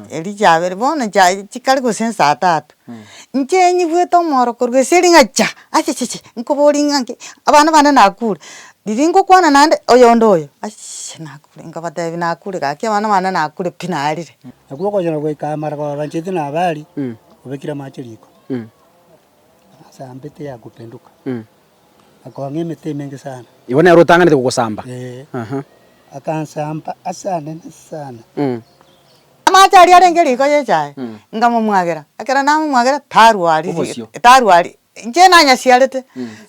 Erio chiabere bono chiaye chikare gose esaa tatu, inche nyigwete omoro korwa ase ring'a cha! Achichichi nkoborie ng'a nki abana bane nakure, riria ngokwana naende oyonde oyo achichichi nakure nkabatebi nakure gaki abana bane nakure pi narire. Nakwo okonyora goika amara kwababancheti na habari, obekire amache riko, ase ambete yakupenduka. akong'a emete emenge sana. Igo nere otang'anete gogosamba. Ee. Aha. Akansamba ase anene sana. Mm. Amache aria arenge riko y'echae, nkamomwagera, ekero namomwagera tarwa aria ri- Obosio. tarwa aria, inche nanyasiarete,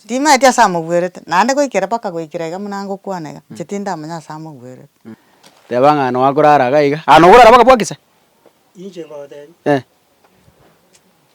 timaeti ase amogwerete, naende goikera mpaka goikera iga buna ngokwana iga, inche tindamanya ase amogwerete. Teba ng'a nonya akorara iga iga. Aa nokorara baka bwakisa? Inche ngotebia. Eh.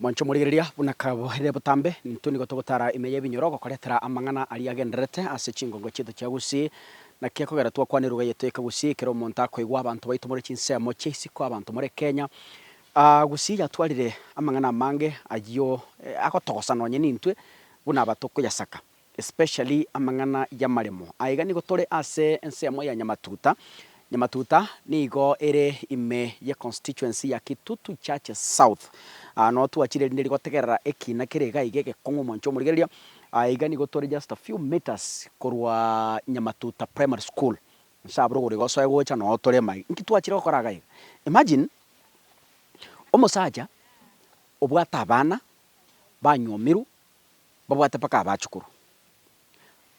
Mwanche omorigereria buna karabo ere botambe, nintwe nigo togotara ime y'ebinyoro ogokoretera amang'ana aria agendererete ase chingongo chiaito chia Gusii. Naki ekogera twakwana eruga yaito ya Kegusii ekero omonto akoigwa abanto baito more chinsemo chia isiko abanto more Kenya. Gusii yatwarire amang'ana amange ayio agotogosa nonye nintwe buna abatokoyasaka. especially amang'ana y'amaremo. Aiga nigo tore ase ensemo ya Nyamatuta. Nyamatuta nigo ere ime ye constituency ya Kitutu Churches South. Aa no twachire rinde rigotegerera ekina kere iga iga egekong'u omonche omorigereria. Aiga nigo tore just a few metres korwa Nyamatuta Primary School. Inse abwo rogoro iga osoe gocha no tore ime aiga. Inki twachire gokora iga iga? Imagine omosacha obwate abana, banyomirwe, Mbabwate mpaka abachukuru.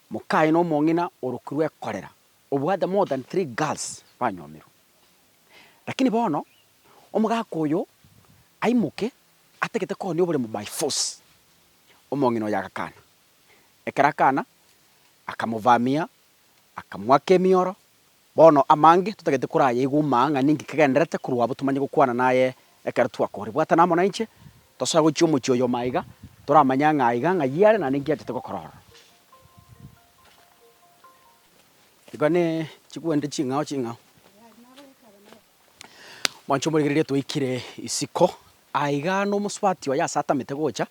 Mokaye na omong'ina orokirwe ekorera, obwate more than three girls banyomirwe. Lakini bono omogaka oyo aimoke atagete kohonia oboremo by force. Omong'ina oyo agakana. Ekero akana, akamovamia, akamoaka emioro. Bono amange totagete korayaigwe omaa ng'a ninki kegendererete korwa abwo tomanye gokwana naye ekero twakore. Bwatana amo nainche, tosoe gochia omochie oyo maiga, toramanye ang'e aiga ng'ai are na ninki achete gokora ororo. Igo ne chigwende ching'ao ching'ao. Mwanche omorigereria twaikire isiko, aiga nomosubati oye ase atamete gocha,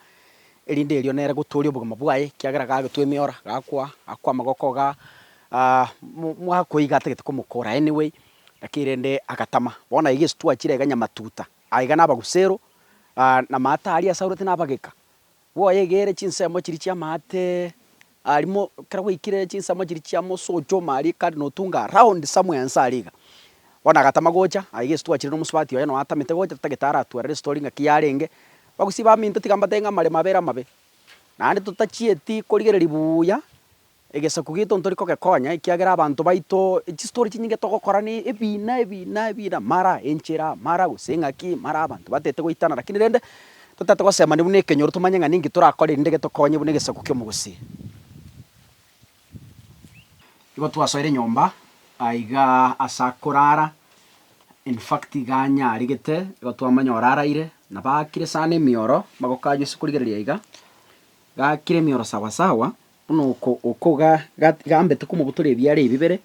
erinde erio nere gotooria obogima bwaye, ekiagera gagetwa emeora, gakwa, gakwa amagoko iga mwakoiga atagete komokora any way, lakini rende agatama. Bono aiga ase twachire aiga nyamatuta, aiga nabagusero, na amato aria ase arwete nabageka. Bwoyegere chinsemo chiria chi'amaate arimo, ekero gwaikire chinsemo chiria chi'amosocho mariika notunga round somewhere nse aria iga. Bono agatama gocha, aye gese twachire nomosubati oye noo atamete gocha totagete aratwarere estory ng'a ki yarenge, bagusii baminto tiga mbatebie ng'a amaremo abeire amabe. Naende totachieti korigereria buuya Egesaku gito ntori kogekonya, ekiagera abanto baito, chistori chinyinge togokora ne ebina, ebina, ebina, mara enchera, mara gose eng'aki, mara abanto batete goitana, lakini rende, totete gosemania buna ekenyoro tomanye ng'a ninki torakore erinde getokonye buna egesaku ki'omogusii. Igo twasoire nyomba aiga as'akorara, in fact iga anyarigete, igo twamanya oraraire, na bakire sana emioro, magoka aye ase korigereria iga, gakire emioro sawa sawa. Buna oko oko ga, ga, gambete komobutora ebiara ebibere,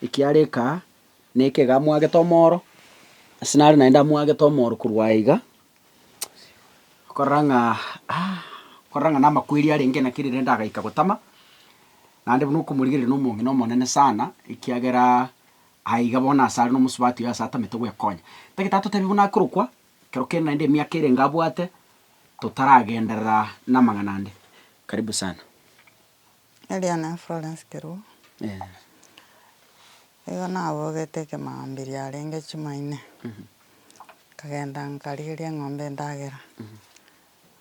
ekiara eka neke iga amwagete omoro, ase nare naende amwagete omoro korwa aiga, okorora ng'a ah, okorora ng'a namakweri arenge naki rirende agaika gotama, naende buna okomorigereria na omong'ina omonene sana, ekiagera aiga bono asare na omosubati oyo ase atamete gwekonya. Tagete atotebie buna akorokwa, Ekero kende naende emiaka erenge abwate totaragenderera namang'ana ande. Karibu sana. Erio nere Florence Keruo. Igo nabogete ekemambia riarenge chimaine, nkagenda nkarigeria eng'ombe endagera,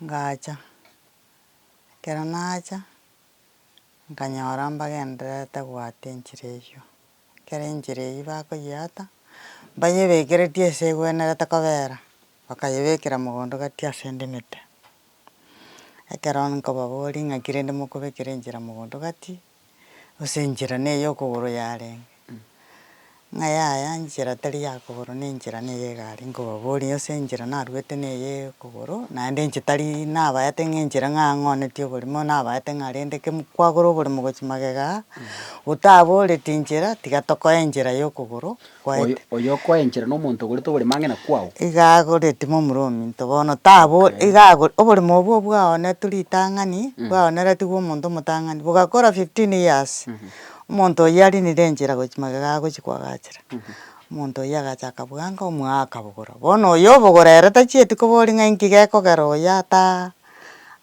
ngacha. Ekero nacha, nkanyora mbagendererete goata enchera eyio. Ekero enchera eyio bakoyeata, mbayebekeretie ase egwenerete kobera, bakayebekera mogondo gati ase ende emete. Ekero nkobaboria ng'aki rende mokobekera enchera mogondo gati, gose enchera ne ey'okogoro yarenge, ng'a yaya enchera tari ya kogoro ne enchera ne ey'egari, nkobaboria gose enchera narwete ne eye y'okogoro, naende inche tari nabaete ng'a enchera ng'a ang'onetie oborimo nabaete ng'a rende ke kwagora oborimo gochia magega aa, Gotabooreti inchera, tiga tokoe enchera y'okogoro kwaito. Oyo okoe enchera nomonto ogorete oborimo ang'e na kwao. Iga agoreti momura ominto bono tabo iga agor oborimo obwo bwaonetu ritang'ani bwaoneretigwe omonto omotang'ani bogakora fifteen years omonto oyio arinire enchera gochia magega agochia koagachera omonto oyio agacha akabwanga omwaa akabogora bono oyo obogora ere tachieti koboria ng'a inki gekogera oyo ataa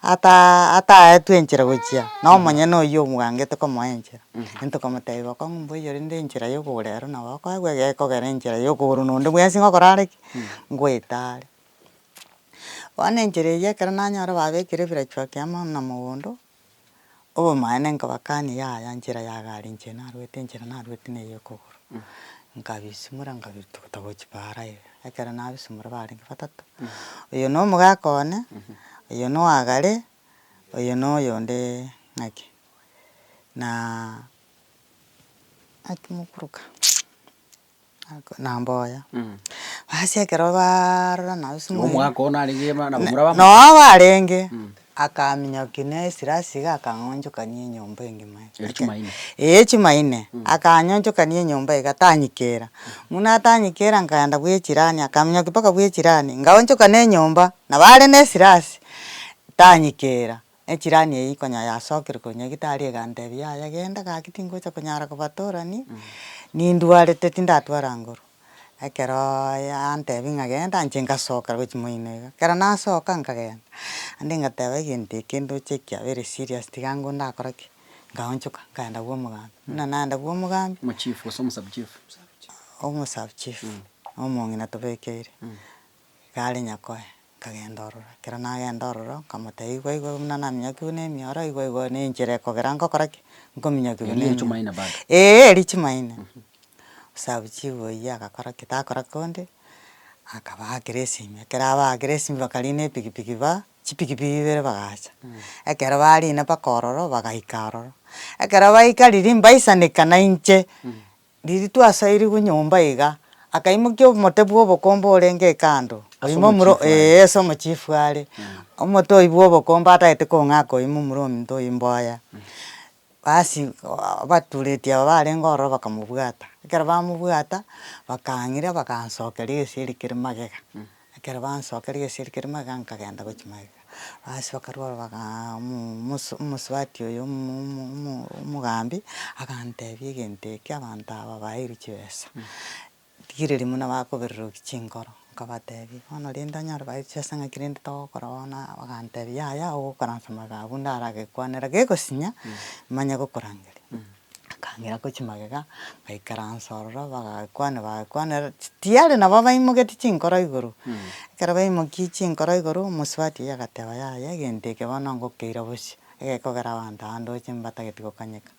ataa ataetwe enchera gochia na omonyene oyio omogangete komoa enchera, ntwe komotebia bokong'u ng'a mbuya rinde enchera ya okogoro ero nabo okoegwa iga ekogera enchera ya okogoro na onde bwensi ng'a okore are ki, ngoeta are. Bono enchera eyio ekero nanyora babekire ebirachwaki amo na mogondo. Obomanene nkabakania yaya nchera ya gari inche narwete enchera narwete na eye ekogoro, nkabisimora nkabirwa togota gochia paara iga, ekero nabisimora barenge batato, oyo na omogaka one, oyo na owa gari, oyo na oyondee ng'ake naa ng'aki mokoruka. Ako na mboya, basi ekero baarora nabo ase omweri. Omwaka oo narenge ema nabo muraba amo. Noa obo arenge, akaminyoki na esirasi iga akang'onchokania enyomba engima iga. Eria chuma ine. Eeh chuma ine, akanyonchokania enyomba iga tanyikera. Buna atanyikera nkaenda bwa echirani akaminyoki mpaka bwa echirani, ngaonchokana enyomba, nabo are na esirasi, tanyikera. Echirani eye konya yasokire korwa nyagetari egantebia, yaya genda gaki tingocha konyara kobatorani, nindwarete tindatwara nguru. Ekeroo yantebia ng'a genda inche ngasoka gochi moino iga, ekero nasoka nkagenda, naende ngateba egento eke ndoche kiabere serious tiga ngwo ndakora ki? Ngaonchoka nkaenda bwa omogambi. Buna naenda bwa omogambi, Omochief gose omosabuchief? omosabuchief, omong'ina tobekeire. Egari nyakoe, nkagenda ororo, ekero nagenda ororo, nkamotebia igwe igwe buna naminyokigwe na emioro, igwe igwe na enchera ekogera nkogora ki? Nkominyokigwa na emioro. Eeh eria chimaene. Osabuchi obo oyio agakora ki? Takora konde, akabaakera esimi, ekero abaakire esimi bakariina epikipiki ba, chipikipiki ibere bagacha. Ekero bariina mpaka ororo, bagaika ororo. Ekero baika riria mbaisaneka nainche. Riiri twasairigwe nyomba iga, akaimokia omote bw'obokombe orenge ekando, Ase oimo omuro, omochifu are. ee, ase omochifu are, omote oyio bw'obokombe atagete kong'aka oimo omuro ominto oyio mboya. Basi abatureti aba barenge ororo bakamobwata, ekero bamobwata, bakang'ira bagansokera egesieri kere magega, Ekero bansokeire gesieri keria magega nkagenda gochia magega, basi bakarwa ore bagaa omosu omosubati oyo omo omo omogambi, agantebia egento eke abanto aba baeirwe chibesa, rigireria buna bakobereroki chinkoro, nkabatebia bono rende onye ore baeirwe chibesa ng'aki rende togokora bono aa, bagantebia yaya ogokoransa magega abwo ndare agekwanera gegosinya, manye gokorangeria. akang'ira ko chimagega, ngaikaransa ororo bagakwana bagakwana ere ti tiyari nabo baimogetie chinkoro igoro, ekero baimokirie chinkoro igoro, omosubati oyio agateba yaya egento eke bono ngokeira bosio, egekogera abanto aa ndoche mbatageti gokanyeka,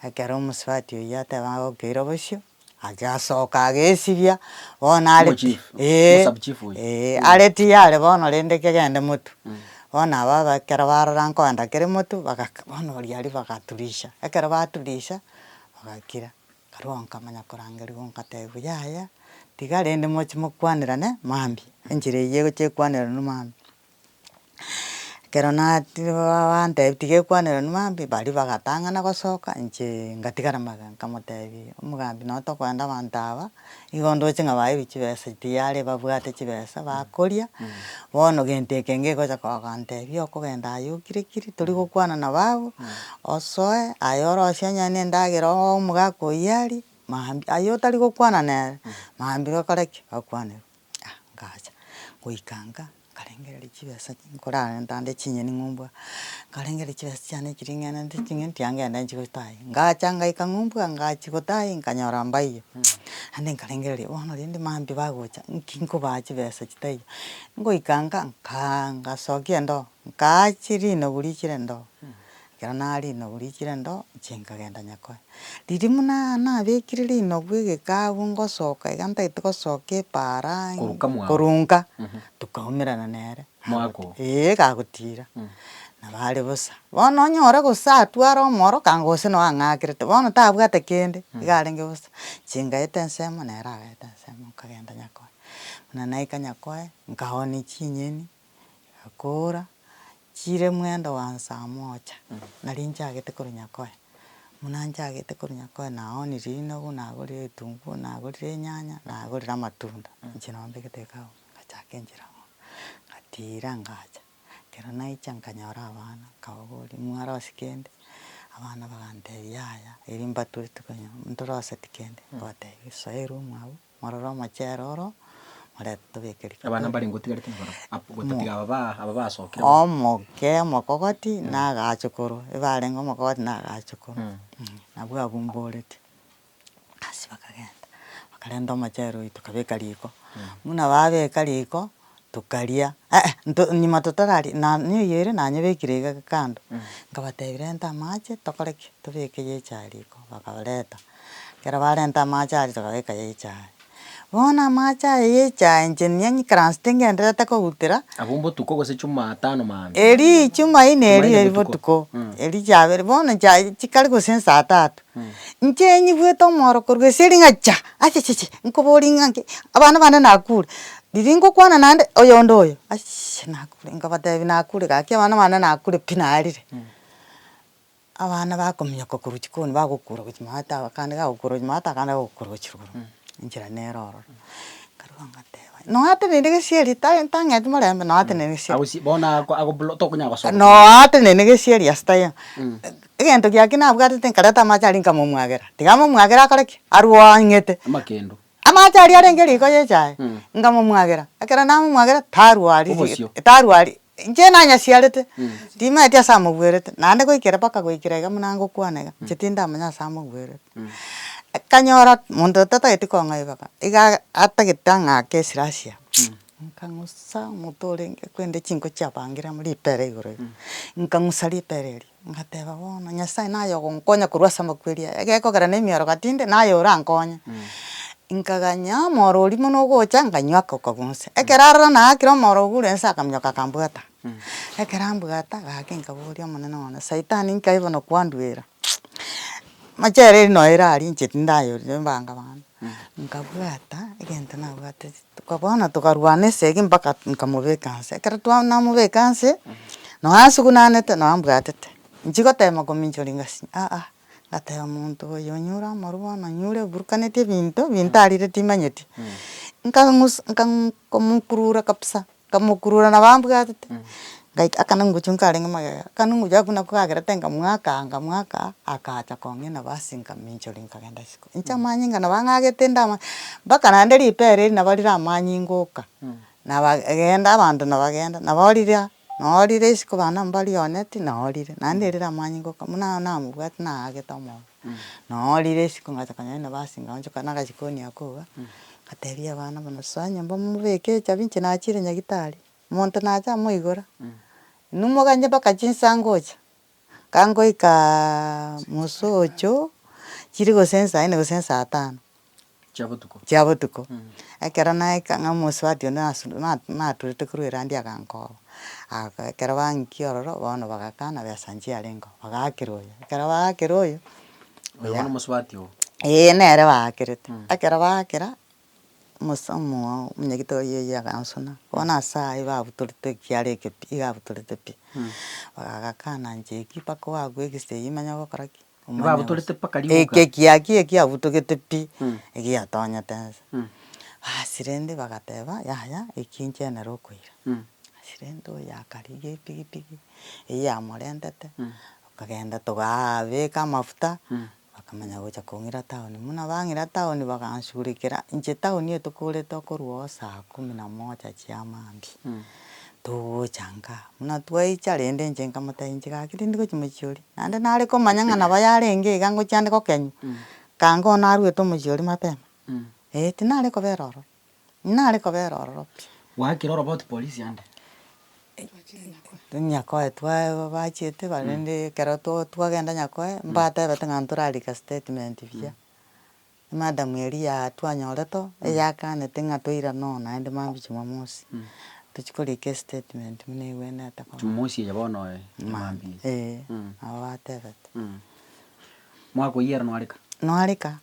ekero omosubati oyio ateba agokeira bosio. Agasoka agesibia bono are pi Omochief, ee omosabu chief oyo. ee Mm. are tiyare bono rende kegende motu Mm. bono aba aba ekero barora nkoenda kere motu bagaka bono oria aria bagaturisha ekero baturisha bagakira karwa nkamanya korangerigwa nkatebiwa yaya tiga rende mochi mokwanirane mambia enchera eyio egocha ekwaneranu mambia. Ekero natiri baba bantebia tiga ekwanera onye maambi, baria bagatang'ana gosoka inche ngatigara magega nkamotebia omogambi nonye tokoenda abanto aba, igo ndoche ng'a baebia chibesa tiyari babwate chibesa bakoria, bono gento eke ngegocha kogotebia okogenda aye okirikiri tori gokwana na bago, osoe aye orosie onye ne endagera ogoe omogaka oyio arie, maambia aye otari gokwana nere maambia okore ki? Okwanerwa. Ah ngacha, goika nka nkarengereria chibesa nkorarenta ande chinyeni ng'ombua, nkarengereria chibesa chiane echi ring'enete ching'iti anga ende nchigochia toaye, ngacha ngaika ng'ombua ngachia gotaai nkanyora mbaiyo, naende nkarengereria bono rende maambia bagocha nki nkobaha chibesa chitaiyo, ngoika nka nkaa ngasokia endoo. Nkaachia rinagu riichire ndoo, ekero naraaria rinagu riichire ndoo, inche nkagenda nyakoe. Riria buna nabekire rinagu egeka agwo ngosoka iga ntagete gosoka epaara Korunka mwango. korunka, tokaumerana nere. Mwako. Ee gagotiira. Nabo are bosa. Bono onyore gose atware omoroka gose noo ang'aakerete, bono tabwate kende, iga arenge bosa. Inche ngaeta ensemo nere agaeta ensemo, nkagenda nyakoe. Buna naika nyakoe, nkaoonia chinyeni, yakoora chire mwendo wa nsaa mocha, naria nchagete korwa nyakoe, buna nchagete korwa nyakoe naoonire rinogo, nagorire egetunguo, nagorire enyanya, nagorire amatunda, inche nabo mbegete iga abwo, ngachaka enchera abwo, ngatiira ngacha, ekero naicha nkanyora abana, nkababoria mwarose kende? Abana bagantebia yaya, erio mbatwete konya ntoroseti kende, nkabatebia soera omwabo. morore omochere oro, morente tobeke riko. Abana mbare ingo otigarete nabarabwo, abwo gotatiga aba ba aba basokire bo. Omoke omokogoti na agachukoro, ebarenge omokogoti na agachukoro, nabwo abumborete. Gasi bakagenda, bakarenta omochere oyio tokabeka riko, buna babeka riko, Tokaria, eeh, nto, nyuma totoraria, na neyio ere nanyebekire iga kando, nkabatebia renta amache tokore ki? Tobeke ya echae riko, bakareta, ekero barenta amache aria tokabeka ya echae. Bono amache aya ya echae inche nigo ng'ikaransete ng'enderete koutera. Abwo mbotuko gose chumatano maambia. Erii chumaine erio eri botuko, eria chiabere, bono chia chikare gose saa tatu, Inche nyigwete omoro korwa gese ring'acha achichichi nkoboria ng'a nki abana bane nakure, riria ngokwana naende oyonde oyo achichichi nakure nkabatebi nakure gaki abana bane nakure pi narire, abana bakominyoka korwa chikoni bagokura gochia maate ago akande gagokura gochia maate akande gagokura gochia rugoro, enchera nere ororo. Nkaruga ngateba noateneniri gesieri ta tang'eti morembe noateneniri gesieri. Agosi bono ako ako blo tokonyara gosoma. Noateneniri gesieri ase taiyo. Egento giake nabwatete nkareta amache aria nkamomwagera. Tiga amomwagere akore ki? Arue oo ang'ete. Amakendo. Amache aria arenge riko y'echae, nkamomwagera. Ekero namomwagera, tarue oo aria ri- Obosio. tarue aria. Inche nanyasiarete, timaeti ase amogwerete, naende goikera mpaka goikera iga buna ngokwana iga, inche tindamanya ase amogwerete. Akanyora monto tatageti kong'aiboka, iga atagete ang'ake esirasia, nkang'usa omote orenge kwende chinko chiabangire amo ripera igoro iga, nkang'usa ripera erio. Ngateba bono Nyasae naye ogonkonya korwa ase amakweri aya, egekogera na emioroka tinde naye orankonye, nkaganya omoro oria buna ogocha nkanywa ako kagunsa. Ekero aroro naakire omoro ogo ore nse akaminyoka akambwata, ekero ambwata gaki nkaboria omonene one, saitani nkai bono kwandwera amachere eri noyo ere aria inche tindayorire mbanga bande, nkabwata egento nabwatete. Toka bono tokarwana esegi mpaka nkamobeka nse, ekero twa namobeka nse, noo asugunanete noo ambwatete, nchi gotema kominchoria ngasi aa, ngateba omonto oyo onyure amarwa bono onyure oburukanetie ebinto, ebinto arire timanyeti, nkang'us nka komokurura kabisa. Nkamokurura nabo ambwatete, ngaika akana ngochia nkarenge magega, akana ngochia agwo nako kagerete nkamwakaa nkamwakaa, akacha kong'ina nabo ase nkaminchoria nkagenda isiko. Inche amanyinga nabo ang'agete inde ama, mpaka naende ripa ere eri nabo rire amanyinga oka, naba genda abanto nabagenda, nabo riria, noo orire isiko abana mbaria one tii, noo orire, naende erire amanyinga oka, buna namobwati naagete omonto. Nonya rire isiko ngacha konyora inwe basinga gochoka na agajikoni ako iga, ngatebia abana buna soa nyomba mobeke echabi inche nachire nyagitari, monto nacha amoigora, inwe moganye mpaka chinsa ngocha, kangoikaaa mosocho chire gose nsa ine gose nsa tano. Chia botuko. chia botuko. Ekero naika ng'a omosubati onde nasu na- na- naturete korwa erandi agankoba, aga ekero bangikia ororo bono bagakana besa inche yarengeo, bagaakera oyo. Ekero baakera oyo, Oyo bono omosubati oo. Eeh nere baakerete. Ekero baakera, omosa omoa omunyagito oyi oyi agansuna, bono ase ayio babutorete ekiara eke pi, iga abutorete pi, agakana inche ki mpaka oagwe egesegi manya ogokora ki. Nibabutorete mpaka rigoka. Ekekia ki ekiabutogete pi, egiatonyete nse. Basi rende bagateba, yaya, eki inche nere okoira. Basi rende oyo akarigia epigipigi eyio yamorentete, tokagenda togaabeka amafuta, bakamanya gocha kong'ira town. Buna bang'ira town bagansurekera, inche town eye tokorete okorwa oo saa kumi na moja chiamambia. togochangaa, buna twaicha rende inche nkamotebia inche gaki tindi gochia mochia oria, naende nare komanya ng'a nabo yarenge iga ngochia ande gokenywa, kanga oo narwete omochia oria mapema, eh tinare kobera ororo, inare kobera ororo pi. Gwaakire oroboti polisi ande? Nyakoe twaaa bachiete bare rende ekero to twagenda nyakoe, mbatebete ng'a ntorarike statement buya. Emadamu eria twanyorete eyakanete ng'a toirane oo naende maambia Jumamosi, tochia korika estatement buna egwenerete korokwa. Jumamosi eye bono oye emaambia eye. Ee, nabo batebete. Mwakoiyia ere noareka? Noareka?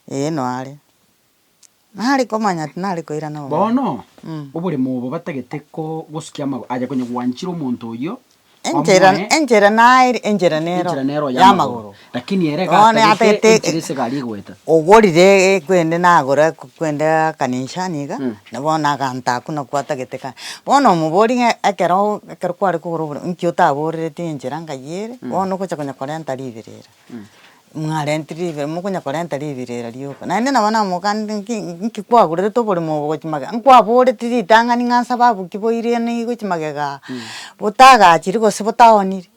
Ee noare. Nare komanya tinare koirana obogima. Bono, oboremo obo batagete ko, gosukia amagoro, aye konya gwanchire omonto oyio, Enchera, Bamoe. enchera naye, enchera nero Enchera nero y'amagoro. Lakini ere Bono gatagete atagete enchera ase gari goeta. ogorire kwende nagora kwende akanisa niga, Mm. na bono aganta akwo nakwo atagete ka. Bono omobori ng'a ekero ekero kware kogora obore inki otaborereti enchera ng'ai ere, bono ogocha konya korenta riberera. Mwarenti ribe mokonya korenta ribira ero rioka, naende nabo namogakanete ng'iki ng'iki kwagurerete oborimo obo gochia magega, nkwaboreti ritang'ani ng'a nsa babu ki boirene igo gochia magega aa, botagachiri gose botaoniri,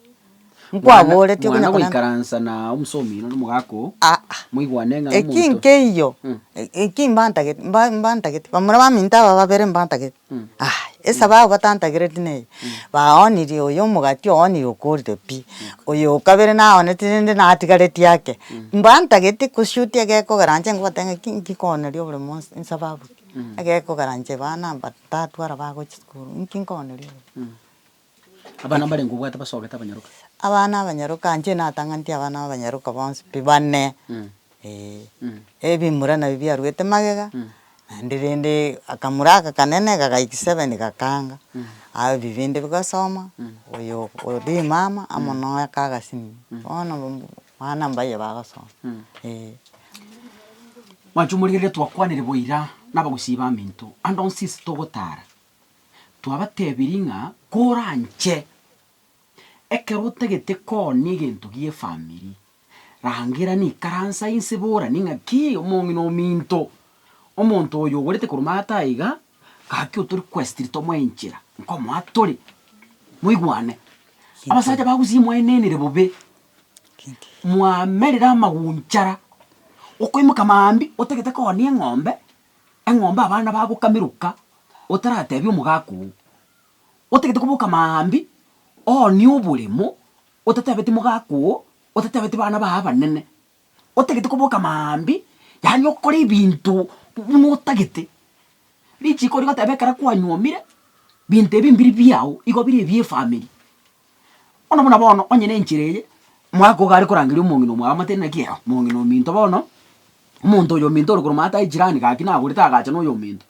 nkwaboreti okonya korenta. Mwana goikaransa na omosomi na omogaka oo, moigwane ng'a omonto. Eki nkeiyo, eki mbantagete mba mbantagete, bamura baminto aba babere mbantagete. Aa, esaba yabo batantagereti neye, baoonirie oyo omogati oonirie okoorire pi, oyo o kabere naooneti rende natigareti ake, mbantageti koshuti egekogera inche ngobatebia ng'aki inki nkooneria obore monsi insa babuki, egekogera inche bana mbatatwara bagochia sukuru, inki nkooneria obore. Abana mbarenge obwate basogete abanyaroka. Abana abanyaroka inche natang'antie abana b'abanyaroka bonsi pi bane, eeh. Ebimura nabio biaruete magega, naende rende akamura aka kanene gagaiki seven gakaanga, aye bi binde bigasoma, oyo oria omama amo noye aka agasimi, bono abana mbaye bagosoma, eeh. Mwanchomorigeri rero twakwanire boira nabagusii baminto, ande onsi inse togotara. Twabatebirie ng'a koranche ekero otagete koonia egento gi'efamiri, rangera nikaransa inse boranie ng'a ki omong'ina ominto, omonto oyo ogorete korwa maata aiga, gaki otori kwesitiri tomoe enchera nkomoa tore, moigwane. Abasacha ba Gusii mwaenenire bobe, mwamerire amagunchara, okoimoka mambia otagete koonia eng'ombe. Eng'ombe abana bagokameroka otaratebia omogaka oo. Otagete koboka maambia oonie oboremo otatebeti mogaka oo, otatebeti bana baye abanene. Otagete koboka maambia yaani okore ebinto buna otagete. Richiko rigoteba ekero kwanyuomire binto ebi mbiri biao igo bire ebia efamiri. Bono buna bono onye nenchera eye, omwaka ogo arekorangeria omong'ina omwamate naki aa omong'ina ominto bono, omonto oyo ominto ore korwa omanyete aye jirani gaki nagorete agacha na oyo ominto,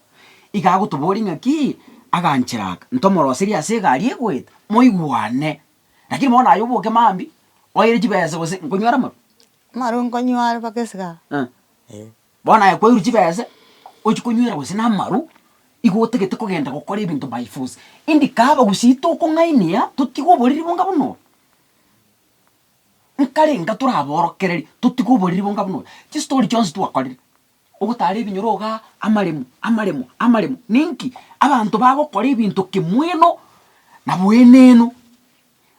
iga agotoboria ng'akii, aganchera aka, ntomoroserie ase egari egoeta, moigwane. Lakini bono aye oboke mambia, oire chibesa gose nkonywere amaru. Amaru nkonyware mpaka esigara, eh. Bono aye kwairwe chibese, ochi konywera gose namaru, igo otagete kogenda gokora ebinto by force. Indikaba gose itokong'ainia totige oboriri bonga buna obo, nkarenga toraborokererie totige oboriri bonga buna obo, chistori chionsi twakorire, ogotara ebinyoro igaa, amaremo, amaremo, amaremo, ninki? Abanto bagokora ebinto kimweno na bweneno.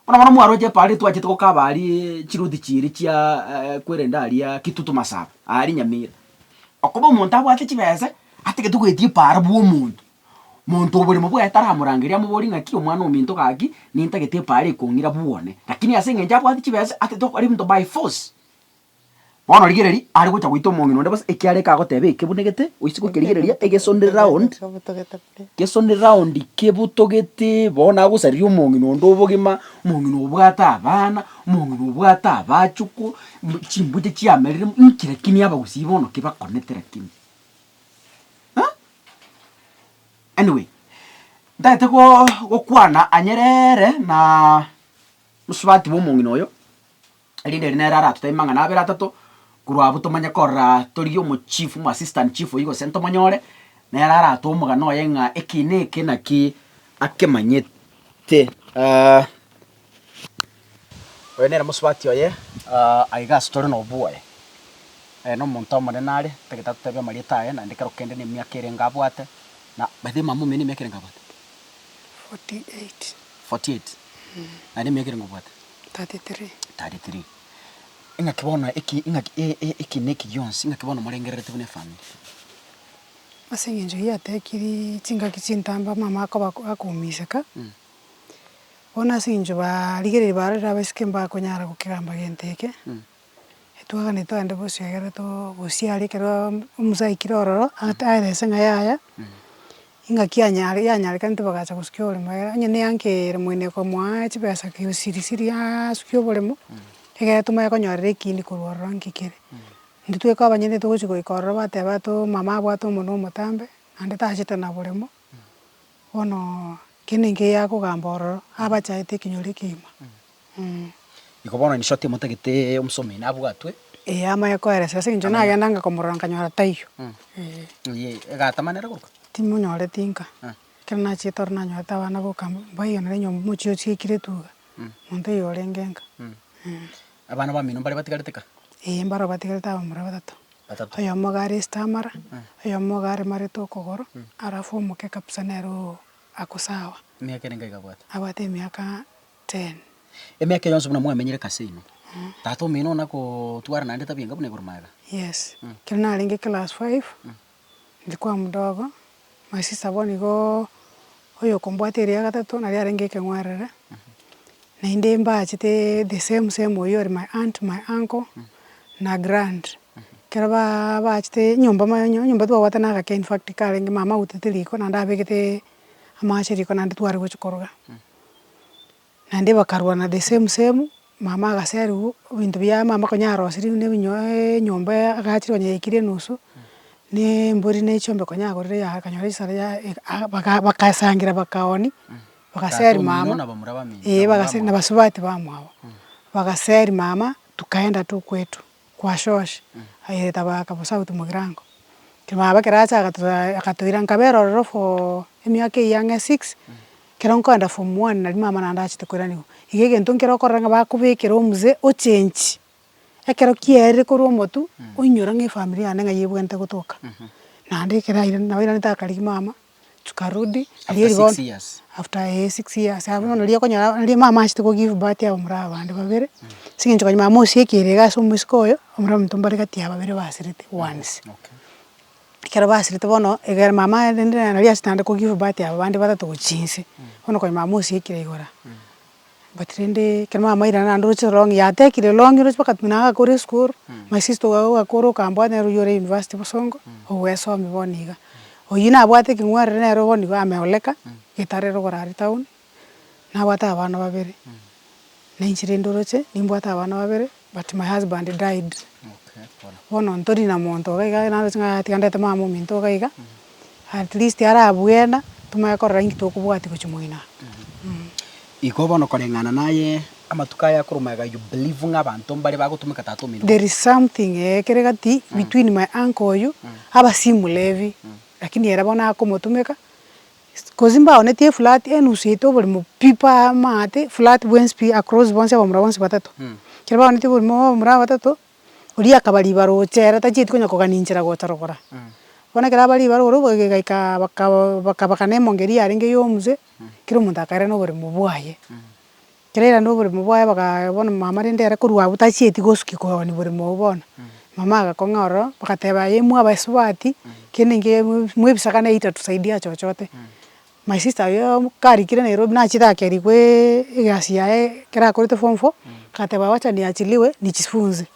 Bono bono mwaroche epa aria twachete gokaba aria chiruti chiiri chia kwerenda aria Kitutu Masaba, aria Nyamira. Okoba omonto abwate chibese, atagete goetia epaaro bw'omonto. Monto oborimo bwaye taramorangeria amoborie ng'aki omwana ominto gaki, nintagete epaaro ekong'ira bw'one. Lakini as'eng'encho abwate chibese, atagete gokora ebinto by force. Bono rigereria, are gocha goita omong'ina onde bosa ekiara ekagoteba eke buna gete, oise gokerigereria egesonde round, gesonde round kebotogete bo nagosariria omong'ina onde obogima, omong'ina obwate abana, omong'ina obwate abachukwu, mbu chimbuya chiamerire mbu inki lakini abagusii bono ki bakonete lakini eh. Anyway, ntagete goooo gokwana anyereeee na mosubati bwa omong'ina oyo. erinde ere nere aratotebie amang'ana abere atato, korwa abwo tomanye korora tori omochief, omoassistant chief oyio gose ntomonyore, nere aratoe omogano oye ng'a eki na eki naki akemanyete. Oyo nere mosubati oye aiga ase tore noboe, aye nomonto omonene are, tagete atotebie amarieta aye naende ekero kende ne emiaka erenge abwate, na by the way mama omino ne emiaka erenge abwate? Forty eight. Forty eight? Naende emiaka erenge obwate? 33. 33. Ing'aki bono eki, ing'aki e, e, eki neki gionsi, ing'aki bono morengererete buna efamiri. Ase eng'encho eyio atekiri chingaki chintambe omama akoba akoumeseka, bono ase eng'encho barigereiri barorire abaiseke mbakonyara gokegamba gento eke, Etwaganete aande bosio egere togosiare ekero omusa aikire ororo ata aere ase eng'ai yaya, ingaki yanyare yanyarekane tibagacha gosukia oboremo egere onye ne eanke ere moino ekomoa chibesa kisirisiri siri asukia oboremo, egere tomoe konyorera ekindi korwa ororo nki kere. Intwe tweka abanyene togochi goika ororo bateba ato omama abwate omonu omotambe, naende tachete na boremo, bono kende nkeiyo akogamba ororo, abachaete ekenyoro ekegima. Mh. Iko bono inche oti motagete omosomi oino abwatwe. Ee, amanye koereserwa, ase eng'encho nagendaga komorora nkanyora taiyo. Ee. Eyee, egatamanera goruka? Timonyoreti nka. Eh. Ekero nachiete ororo nanyorete abana boka mbaiganera enyomba, omochie osiekire tu iga, monto oyo orenge nka. Mh. Eeh. Abana bamino mbaria batigarete ka? Ee, mbarabwo batigarete abamura batato. Batato. Oyomo iga are esita amara, Eh. oyomo iga are mareta okogoro, Mm. alafu omoke kabisa nere oo akosawa. Emiaka ere ngaiga abwate? Abwate emiaka ten. Emiaka eye yonsi buna mwamenyire ka ase inwe, tata omino onakotwara naende tabi enga buna igoro maega? Yes. Mm. Ekero narenge class five, Ndikwa modogo, my sister bono igo oyokombwata erio ya gatato naria arenge ekeng'werere, naende mbachete the same same oyio ore my aunt, my uncle, na grand, ekero baa baachete nyomba mono onye nyomba twagwatana na agake infact karenge mama autete riko naende abegete amache riko naende tware gochia koroga. Naende bakarwana the same same, mama agaserigwa, ebinto bia mama konya arosirie buna ebinyo enyomba ya agachire konya yaikire enusu, na embori na echiombe konya agorire ya akanyora chisara ya aa baka bakasangira bakaoni, bagaseri mama, eh bagaseri na basubati bamwabo, bagaseri mama, tokaenda tokwetu. Kwashosh, aye tabaka bo south mogirango, kero baba kero acha agato agatoira nkabe rororo for emiaka eyio ang'e six, kero nkoenda form one nari mama naende achete koiraniwa, iga egento nkere okorora ng'a bakobekera omuzee o change, ekero kiaerire korwa omotwe, oinyora ng'a efamiri yane ng'a yebwenerete gotoka, naende ekero airire nabo airanete akarigia mama. tukarudi riria After rigo six years. after eh six years abwo bono riria okonyora riria mama achete ko give birth aba morabwo abande babere, ase eng'encho kanyuma mama osiekire iga ase omosika oyo, omorero omonto mbare gati ya babere basirete once. Okay. Ekero basirete bono egere mama rende nari achete naende ko give birth aba bande batato gochia inse, bono konyuma mama osiekire igoro aa. but rende ekero mamaire naende oroche rongi yatekire rongi oroche mpaka buna agakora esukuru, my sister oyo agakora okambwaa nere oywo ore university bosongo, ogwesomia bono iga, oyio nabwate ekeng'werere nere bono iga ame ole ka, getarero ogorara etown, nabwate abana babere, nainche rende oroche nimbwate abana babere. But my husband died, bono ntori na monto iga iga naro ase ng'a atiganderete mama ominto iga iga, at least ara bwena, tomanye korora inki tokobwatia gochia moino aa mmh. Igo bono koreng'ana naye amatuko aya akorwa omega you believe ng'a abanto mbare bagotomeka tata ominto. There is something eeh ekere gati between my uncle oyo, aba si morebi, lakini ere bono akomotomeka, Gose mbaonetie eflat enusu yaito oborimo pi pa amaate, flat bwensi pi across bonsi abamura bonsi batato. Ekero baonetie oborimo bwa abamura batato, oria akaba ribaro ocha ere tachieti konya kogania enchera gocha rogoro aa. Bono ekero aba ribaro ore oboigo egaikaa bakaba bakabakana emongeria yarenge ya omuse, kera omonto akaira noborimo bwaye. Ekero airana oboremo bwaye bakaga bono mama rende ere korwa abwo tachieti gosukia kooni boremo obwo bono, mama agakong'a ororo, bagateba aye imwe abaisubati, kende inki mwa ebisaga ne itatusaidia chochote, my sister oyoo karikire Nairobi nachire ake rigwe egasi yaye ekero akorete form four, agateba wacha niachiliwe nichifunze.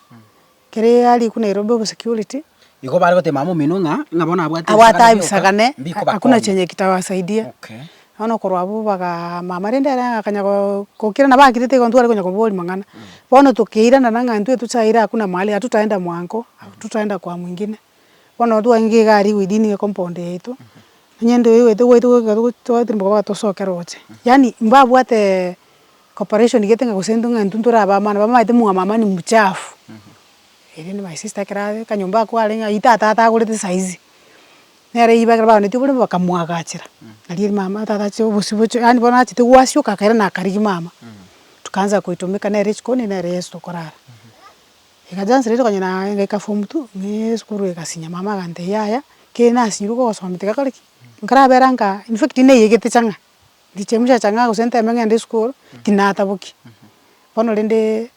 Kere ariku Nairobi obo security. Igo bare goteba mama omino ng'a ng'a bono abwate abwate ebisaka ne hakuna chenye kitawasaidia okay. Bono korwa abwo bagaa mama rende ere akanya goo gokira nabo akirete igo ntware konya koboria mang'ana. Bono tokeirana na ng'a intwe tochaire hakuna mahali hatutaenda mwanko, hatutaenda kwa mwingine. Bono intwe twagenge iga aria within the compound yaito, onye intwe oigwete gwaito goika togotoa tosoke roche. Yaani mbabwatee. Cooperation gete ng'a gose ng'a intwe ntore abamano bamaete mwamamani muchafu, eria ne my sister ekero are kanyomba ako are ng'a itata atagorete saizi, nere riba ekero bagonetie oborimo bakamwagachera, nario mama tata ache obosio bochio yaani bono achete gwasioka akaira na akarigia mama, tukaanza koitomeka nere chikoni nere Yeso tokorara. Iga chance rero okonyora naye ngaika form two, ng'ee esukuru egasinya mama agantebia yaya, kere nasinyirwe gogosoma tiga kore ki, nkarabera nka infact neyegete chang'a. Ndiche muchacha ng'a gose nteme ng'ende esukuru, tinataboki. Bono rende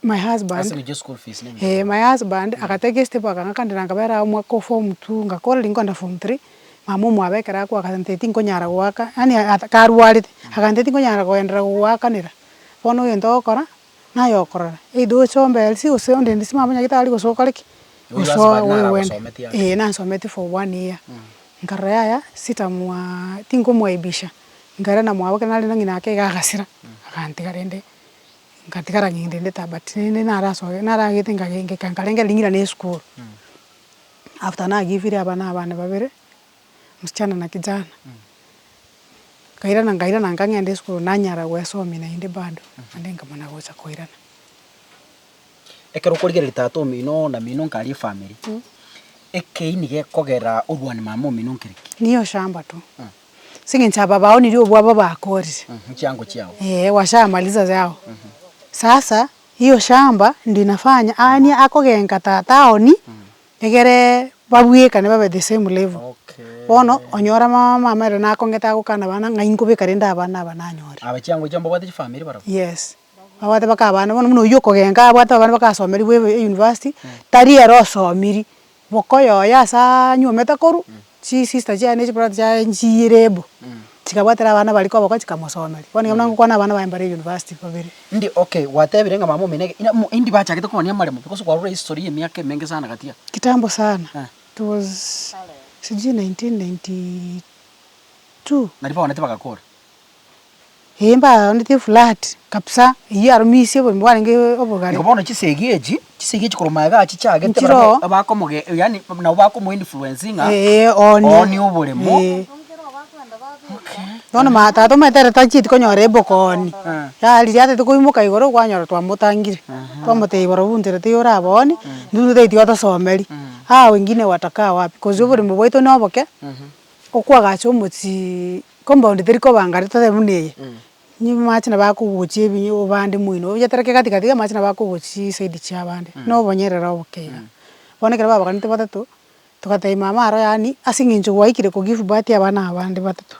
my husband. Ase gochia school fees na ebinto Eeh my husband, agateka esete bwa gaka kande na nkabera agwo omwaka o form two, ngakora riria nkoenda form three, mama omwabekera ako agantebi tinkonyara goaka, yaani karwarete, agantebi tinkonyara goenderera gogoakanera, bono egento ogokora, Naye okorora, either oche ombe Elsie gose onde inde simanya onye tari gosoa okore ki? Oigo ase Gosoa barabwo oegwende. nagosometi aa. Ee nansometi for one year. Nkarora yaya sitamwaa tinkomwaibisha, nkarora namwabokire narende ng'ina ake iga agasira, agantiga rende ngatigara ng'ina rende taba but rende narasoe naragete ngage ngeka nkarenge ring'ana na esukuru. After nagivire abana abana babere, msichana na kijana, nkairana nkairana nkang'enda esukuru nanyara gwesomia naende bado, naende nkamana gocha koirana. Ekero okorigereria tata omino na mino nkare efamiri, ekeini gekogera orwane mama omino nkere ki? Niye oshamba tu, ase eng'encho aba baonirie obwabo bakorire. Nchiango chiabo. Eeh washa maliza yao. Sasa, hiyo shamba ndio inafanya aanie akogenka tata aonie Egere babwekane babe the same level. Okay. Bono onyore ama mama ere nakongete agokana abana ng'a inkobeka rende abana aba nanyore. Aba chiango chiabo mbabwate chifamiri barabwo. Yes. Babwate mpaka abana bono buna oywo okogenka abwate abana bakasomerigwe ebe euniversity, tari ere osomiri, boka oyoye ase anyuomete korwa. Chisista chiaye ne chibrother chiaye nchiyirebu, chikabwatera abana baria koboko chikamosomeria. Bono igo buna ngokwana abana baye mbare university babere. Indie okay gwatebire ng'a mama omeneke ina mo indie bachagete komonia amaremo because kwarure history ye emiaka emenge sana gatia. Kitambo sana. Eh. It was sijui 1992. Naria baonete bagakora. Eeh mbaondetie flat kabisa, eyio arumisia obogima bwarenge obogare. Igo bono chisegi echi, chisegi echi korwa magega achi chiagete Nchire barabwo oo. abakomoge yaani nabo bakomo influencinga Eeh one. one oboremo. Eeh. Okay. Bono ma tata omanyete ere tachieti konyora ebokoni, Eh. yariri atete koimoka igoro kwanyora twamotangire, twamotebia boro bw'u ntere teiyo orabe one, intwe tari tiga tosomeria, aa wengine watakaa wapi, kosi oboremo bwaito noboke, okwagacha omochie Nkomba onde tari koba ngare totebe buna eye, inwe mwamache nabo akogochia ebinyo obande moino oyetereke gati gati iga mwamache nabo akogochia chiside chia abande, na obonyerere oboke iga. Bono ekero babaganete batato, togatebia mama aro yaani ase eng'encho gwaikire ko give birth abana aba bande batato,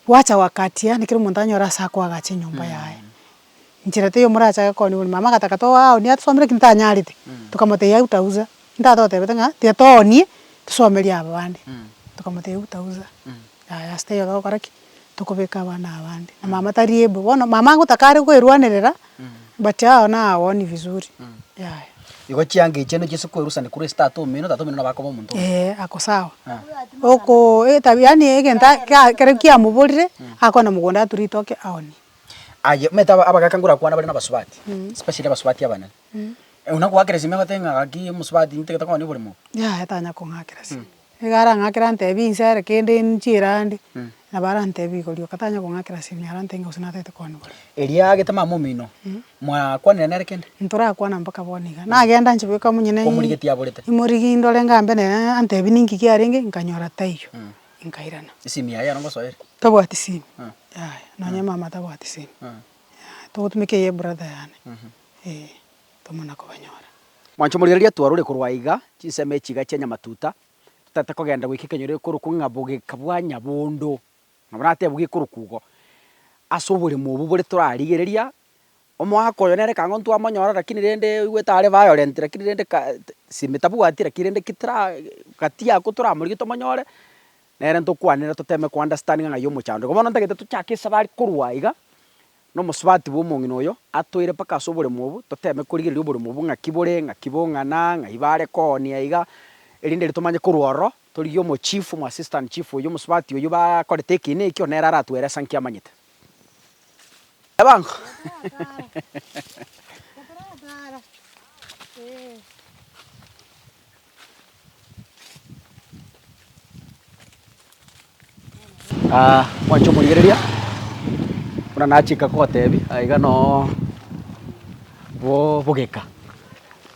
gwacha wakati yaani kera omonto anyore ase akoagacha enyomba yaye, inchera teiyo morachake kooni bori. Mama agataka toa ao nigo atosomere eki ntanyarete, tokamotebia eutausa, ntatotebete ng'a tiga toonie tosomerie aba bande, tokamotebia eutausa, yaya ase teiyo togokora ki? Tokobeka abana aba bande, na mama tari able, bono mama ngotaka are koerwanerera but ao na aoni vizuri, yaya. Igo chianga echi nigo chiaise koerusani korwa ase tata omino, tata omino nabo akoba omonto omuya. Eeh ako sawa, okoo etabia yaani egento ake ekero kiamoborire, akogenda mogondo ature ritoke aonie. Aye, omanyete aba- abagaka ngorakwane bare nabasubati, especially abasubati abanene. Ee, buna okoakera esimi egoteba ng'a gaki omosubati ntagete konya oborimo obo. Yaya tanya kong'akera esimi. Nigo arang'akere antebie bi inse ere kende nchie erande, nabo arantebie igo rioka tanya kong'akera esimi arantebie ng'a gose natagete konya oborimo. Erio agete mama omino, mwakwanire nere kende? Ntorakwana mpaka bono iga. Nagenda nchia goika monyene i- Omorigeti aborete. imorigi ndore ng'a mbe nere, antebie ninki kiarenge, nkanyora taiyo, nkairana. Esimi yaye ero ngosoeire? Tabwati simu yaya nonya emama tabwati simu yaya togotumeka eye brother yane eh tomana kobanyora. Mwancho morigereria twarure korwa aiga chinsemo echi iga chia nyamatuta totaete kogenda goika ekenyoro ekorokwo ng'a bogeka bwa nyabondo ng'a buna atebwe gekorokwo igo ase oboremo obo bore torarigereria omoaka oyo nere ekang'o ntwamonyora lakini rende oigwete are violent lakini rende ka simu tabwati lakini rende ki tara gati ako toramorige tomonyore Nere ntokwanera toteme kounderstandinga ng'ai y'omochando iga. Bono ntagete tochake esabe are korwa iga na omosubati bw'omong'ina oyo atoire mpaka ase oboremo obwo, toteme korigereria oboremo obwo ng'aki bore, ng'aki bong'ana, ng'ai bare koonia iga, erinde riria tomanye korwa ororo torigie omochief, omoassistant chief oyio, omosubati oyio bakorete eki na eki, onere aratueresankie amanyete. Ebango. Ah, mwanche omorigereria buna nachika gotebi aiga no bo bogeka.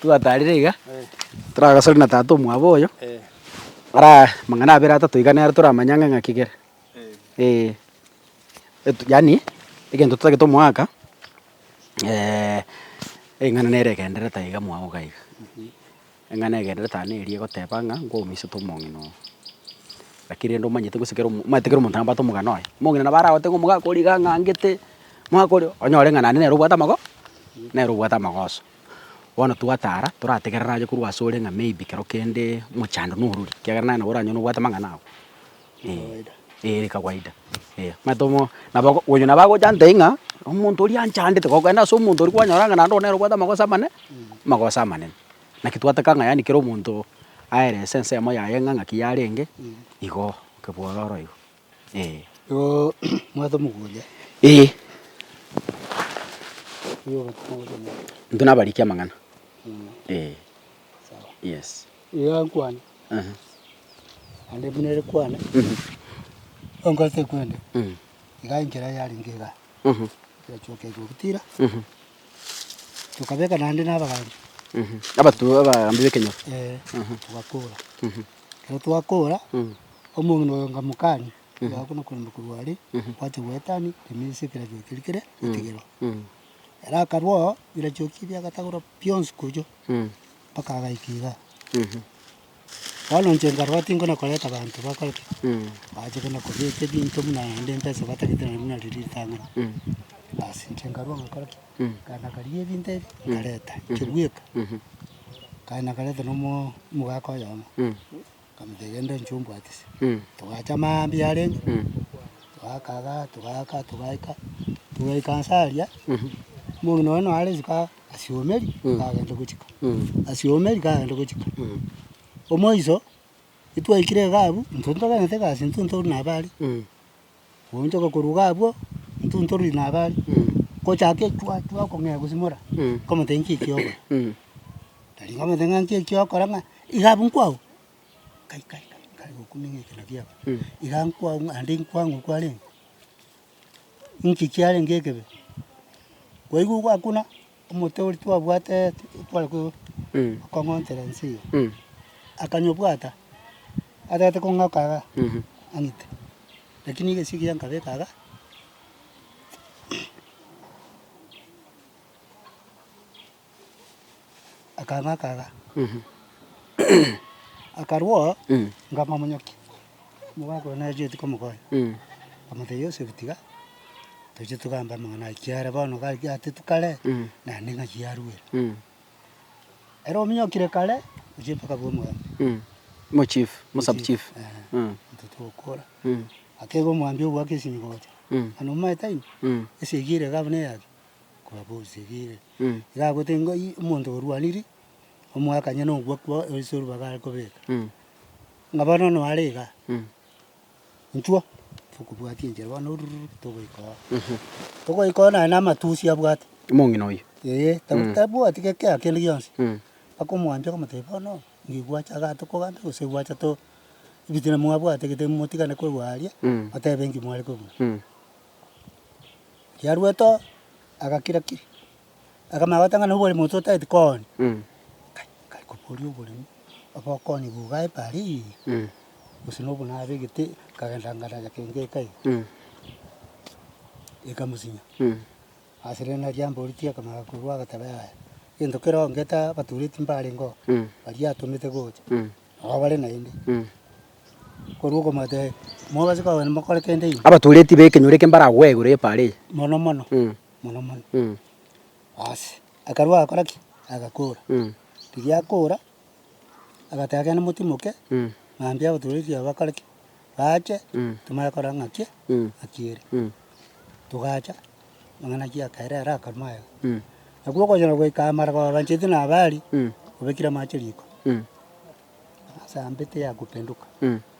Twataarire iga, toragasore na tata omwabo oyo, ara amang'ana abere atato iga nere toramanye ang'e ng'aki kere. Eeh, yaani egento totagete omoaka eing'ana nere egendererete aiga mwago iga. Eng'ana egenderete aane eria egoteba ng'a nkomoiseta omong'ina oo. Lakini rende omanyete gose kera omo omanyete kera omonto nabwate omogano oye. Omong'ina nabo aragote ng'a omogaka oria iga ang'angete, omogaka oria onyore ng'a naende nere obwate amago nere obwate amagoso. Bono twatara torategerere aye korwa asore ng'a maybe kero kende mochando norori, ekiagera naye nabo oranyore nobwate amang'ana ago. Kawaida. Eh, ere kawaida. Eh, omanyete omo, nabo oko- oyio nabo agocha ante ng'a, omonto oria anchandete, gokenda ase omonto oria kwanyora ng'a naende onere obwate amagoso amane, amagoso amanene. Naki twataka ng'a yaani kera omonto aerese ensemo yaye ng'a ng'aki yarenge, igo oke bwororo igo, eh. Igo omanyete omogoria Eh. Intwe nabarikia amang'ana, eh. Yes. Iga nkwane, Aha. naende buna ere kwane, onkorete kwende, Mm. iga enchera yarenge iga, Mhm. yachoka eke ogotira, Mhm. tokabeka naende na abagambi, Mhm. Abaturo abagambi b'ekenyoro. eh, Mhm. togakora. Mhm. Ekero twakora, Mhm. omong'ina oyo nkamokania, iga buna koremba korwa aria, Mhm. gwacha goetania, remia ase ekeragia keri kere, Mhm. ekegerwa. Mhm. Ere akarua oo birachioki biagatagorwa bionsi kochia mpaka agaika igaa. Bono inche nkarora tinkona koreta abanto bakore ki? Bache kona kobeka ebinto buna naende mpesa batagete naende buna riria ritang'ani. Basi inche nkarua ngakora ki? Nkaenda karigia ebinto ebi, nkareta, nchia bweka. Nkaenda nkareta na omo- omogaka oyomo. Akamotebia, Genda inche ombwatise. Togacha mambia arenge, togakaga, togaaka, togaika, togaika nse aria, omong'ina one noare isiko aa asiomeri, kagenda gochika, asiomeri kagenda gochika. Omoiso, etwaikire iga abwo, intwe ntoganyete egasi, intwe ntogoro nabo are. Koonchoka koruga abwo, ntunte oruriri na abare, ngochake chwa chwa okong'ea gosimora, nkomote nki eki ogokora? Tari nkomote ng'a nki eki ogokora ng'a iga abwo nkwago? Kai kai kai nkare gokumenya ekero kiago, iga nkwago ng'a naende nkwang'u kwarenge, ninki kiarenge ekebe? Kwaigwa ogwakuna. Omonto oria twabwate tware kong'ontera ense eye, akanyobwata, atagete kong'aka iga ang'ite, lakini iga esegi yankabeka iga. Akang'aka iga akarwao, nkamomonyokia. Omogaka oye nareti komokonya, akamotebia, Yosefu, tiga toche togambe amang'ana aya, ekiagera bono gaki atetwe kare, naende ng'aki yarwire. Ere ominyokire kare, ochire mpaka bwa omogania. Mochief, Mosubchief. Eeh, intwe togokora. Akeba omwambia ogoaka esimi gocha, mani omaete aino, esegi ere iga buna eyake, kobabe esegi ere. Iga agote ng'ai omonto orwanirie, omoakanye nogoakwa ase orubaga are kobeka. Ng'a bono noare iga, inchuo, tokobwatia enchera bono rururu togoika oo. Togoika oo naende amatusi abwate. Omong'ina oyio. Ee, taba- tabwati ge- kera kende gionsi. Mpaka omwambia akamotebia bono, nigo gwacha igaa tokogambia gose gwacha to, ebitina mwabwate gete motigane korwa aria, motebe enki mware kobua. Riarwete oo, agakira kiri. Akamanya goteba ng'a noboremi ote otagete kooni. Kai, kare koboria oboremi, obe okooni bugo aye bare iga, gose nobo nabegete nkagenda nkarara kenge eka iga, ekamosinya. Ase rende nario amboritie akamanya korwa agateba yaya, egento kere ongete abatureti mbarenge oo, baria atomete gocha, nabo bare naende. Korwa okomotebia, mobase kogenda mokore kende ime. Abatureti b'ekenyoro eke mbaragoegure bare iga. Mono mono. mono mono. Basi akarua agakora ki? Agakora. Riria akora, agateba ekero nimotimoke, mambia abaturwa erio bakore ki? Bache, timanye korora ng'aki e, ng'aki ere. Togacha, amang'ana akia akaira ere akaruma aye. Naki ogocha na goika amara kobabancheti na abaaria, obekire amache riko, ase ambete yakopenduka.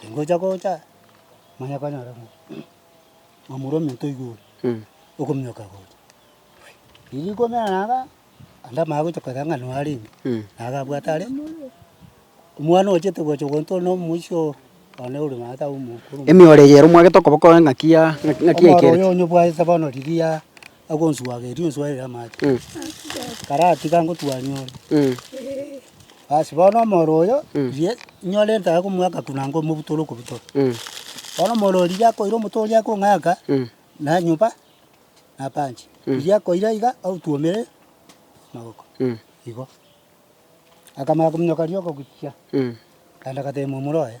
Aringocha gocha, manya konyora ng'a mamura ominto iga ore, okominyoka gocha. Riria rikomera na anga, naende amaya gocha koira ng'a noo arenge, na iga abwate are, omwana ochete gocha ogonto ore na omoisia oo, one ore naye tawe omokoro. Emioro eye ere omwagete okoboko ng'aki ya ng'aki yaikire. Omoro oyo onye obwate bono riria. Agonswageria onswarere amache, karatiga ngotwani ore. Basi bono omoro oyo riria nyore ntare komwaka korwa nanga omobuto ore okobutora. Bono omoro oyo riria akoira omoto oria akong'aka, nanyoba napanche. Riria akoira iga aotwomere magoko igo. Akamanya kominyoka rioka gochia, akaenda agatebia momura oye,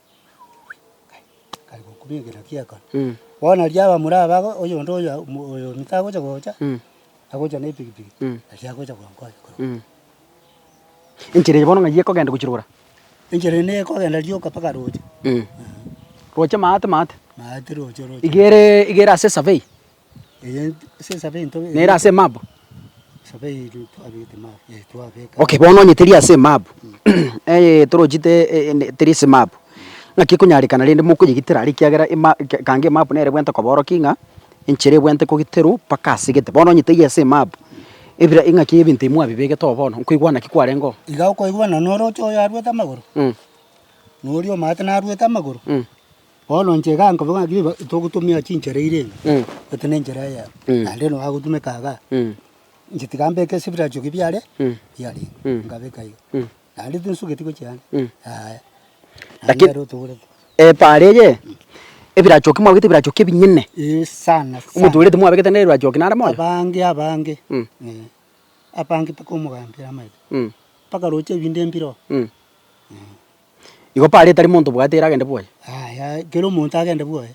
Bono riria abamura aba ago, oyonde oyo omo oyo omito agocha gocha, agocha na epikipiki, aria agocha gonkonya korwa. Enchera eye bono ng'ai ekogenda gochia rogoro? Enchera eye nigo ekogenda rioka mpaka roche. Roche maate maate? Maate roche roche. Iga ere iga ere ase esavei? nere ase Moabu? Okay, bono onye teri ase Moabu, eye torochi teri ase Moabu, naki ekonyarekana rende mokoyegitera are ekiagera ekango ya Moabu nere ebwente koborokia ng'a enchera ebwente kogiterwa mpaka ase gete. Bono onye teri ase Moabu, ebira ing'aki ebinto ebi mwabibegete oo bono, nkoigwa naki kwarenge oo? Iga okoigwa ng'a noroche oyo arwete amagoro, na oria omanyete narwete amagoro. Bono inche iga nkoba ng'a riba togotumia chinchera eira ebi, gose nenchera eyemo, naende nonya gotumeka igaa, inche tiga mbeke ebiracho ki biare biarenge, nkabeka iga, naende tinsugeti gochia ande, yaya, naende Laki- nere otogorete. Epaara eye, ebirachoki mwabegete ebirachoki ebinene, Eeh sana sana. omotoorete mwabegete nere ebirachoki nare moyo. Abange abange, Mm. eeh, abange mpaka omogambere amaete, mpaka roche ebinto mbiroo. Igo paro etari monto bwate ere agende bwoye. Yaya ekero omonto agende bwoye,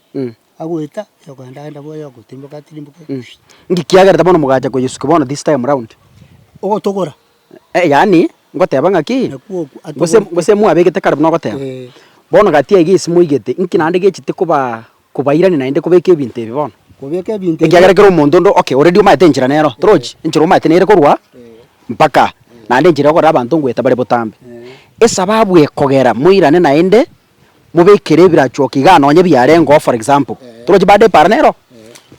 agoeta yokogenda agende bwoye ogotimboka atirimboke pi. Nki kiagerete bono mogacha koyesukia bono this time round? Ogotogora. Eh yaani ngoteba ng'aki, Nakwo okwo gose atogorete. gose mwabegete kare buna ogoteba. Eeh. Bono gati iga ase moigete, nki naende gechete koba Kobairania naende kobeka ebinto ebi bono. Kobeka ebinto ebi. Ekiagera kera omonto onde oke oredi omaete enchera nero. Torochi? Enchera omaete nere korwa mpaka naende enchera yokorera abanto ngoeta bare botambe. Esababu ekogera moirane naende mobekere ebirachuoka igaa nonye biarengeo for example. Torochi bado epara nero?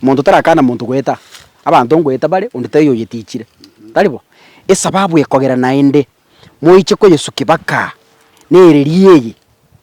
Monto tarakana monto goeta. Abanto ngoeta bare onde taiyo oyetichire. Tari bo? Esababu ekogera naende moiche koyesukia baka nereri eye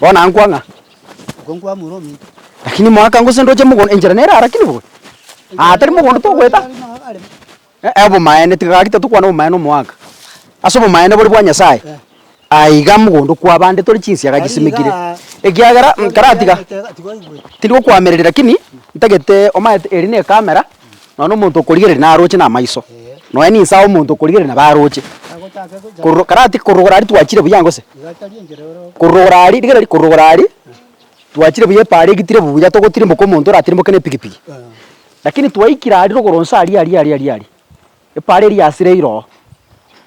Bono ankwa ng'a? Lakini moaka gose ndoche mogondo, enchera nere aa, lakini bobe? Aa tari mogondo togoeta. Ee, obomaene, tiga gaki tatokwana obomaene omoaka, ase obomaene bore bwa Nyasae, aye iga mogondo okwaba ande tore chinsiaga chisimekire, ekiagera nkaratiga tindi gokwamereria lakini ntagete omanyete eri ne camera, nonye na omonto okorigereria naroche na amaiso, nonye na inse aye omonto okorigereria nabo aroche, korora o karati korora igoro aria twachire buya gose? korora igoro aria, rigereria ri, korora igoro aria, twachire buya epaara egitire buya togotirimboka omonto oratirimboke na epikipiki. Lakini twaikire aria rogoro nse aria aria aria aria aria, epaara eria yasire iroo,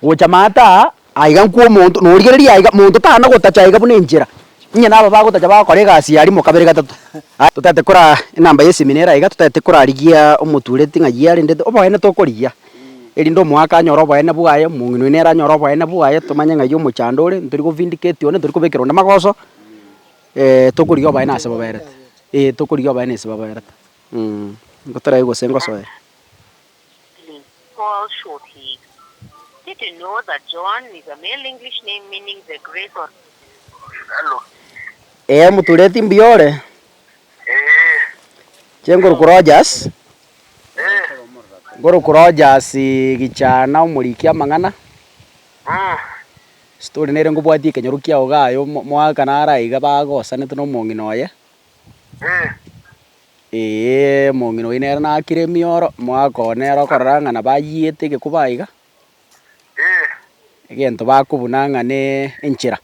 gocha maata aa aiga nkwo omonto norigereria aiga monto tana gotacha aiga buna enchera, inye naba bagotacha bagokora egasi eye arimo kabere gatato. Aye totaete kora enamba ye seminera aiga totaete korarigia omotureti ng'a yia rende oboene tokorigia, erinde omoaka anyore oboene bwaye, omong'ina oino ere anyore oboene bwaye, tomanye ng'ai omochando ore, ntori go vindicate one, ntori kobekera onde magoso, tokorigia oboene ase boberete, ee tokorigia oboene ase boberete. Ngoterai gose ngosoe? Ee motureti mbuya ore? Inche nkoruku Rogers, nkoruku Rogers gichana omoriki amang'ana, ase tore nere ngobwatia ekenyoro kiao iga aye omwaka naro aiga bagosanete na omong'ina oye. Ee. Ee, omong'ina oino ere nakire emioro, omogaka oo nere okorora ng'a nabayiete egekuba iga, Ee. egento bakobuna ng'a ne enchera.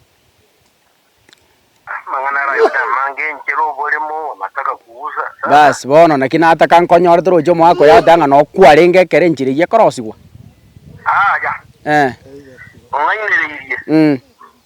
Amang'ana ara ayonde amange, enchera, oboremo, amataka kugusa. Sasa. Basi bono naki nataka nkonyore toroche omogaka oyo agoteeba ng'a nokwarenge ekero enchera eyio ekorosigwa. Aya. Eh. Ong'ainereirie. Mm.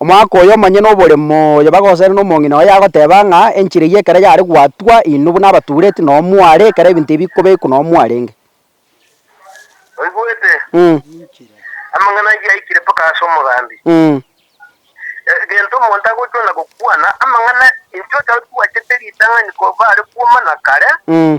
Omwaka oyo monyene noboremo oyo bagosaera nomong'ina oye agoteba ng'a enchera eyio ekero yare gwatwa inwe buna abatureti noo mware ekero ebinto ebi bikobekwa noo mwarenge. Oigwete? Mh. Amang'ana ayio aikire mpaka ase omogambi. Mh. Egento omonto agochwana gokwana amang'ana inche otari twachete ritang'ani koba are kuoma na kare, Mh.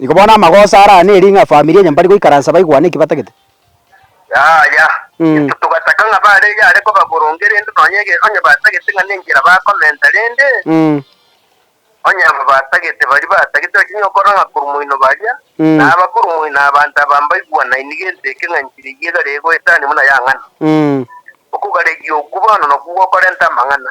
Igo bono amagoso arara neri ng'a efamiri enye mbari goikaransa baigwane eki batagete. Yaya, intwe togataka ng'a bare yare koba boronge rende nonya egere onye batagete ng'a nenchera bakomenta rende, onye aba batagete baria batagete bachia nonya okora ng'a korwa moino baria, na aba korwa moino abanto aba mbaigwanaini gento eke ng'a enchera eyio egare egoetania buna yang'ana. Okogareria okwo bono nokwo gokorenta amang'ana.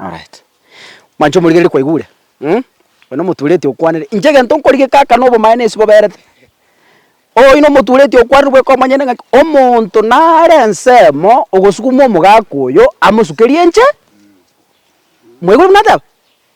Alright. Mwancho omorigereria kwaigure? Mh? Oyo nomotureti okwanire, inche egento nkorigeka aka nobomaene ase boberete. Oino omotureti okwanire bweka omonyene ng'aki, omonto nare ensemo ogosukuma omogaka oyo amosukerie inche, mwaigure buna nateba?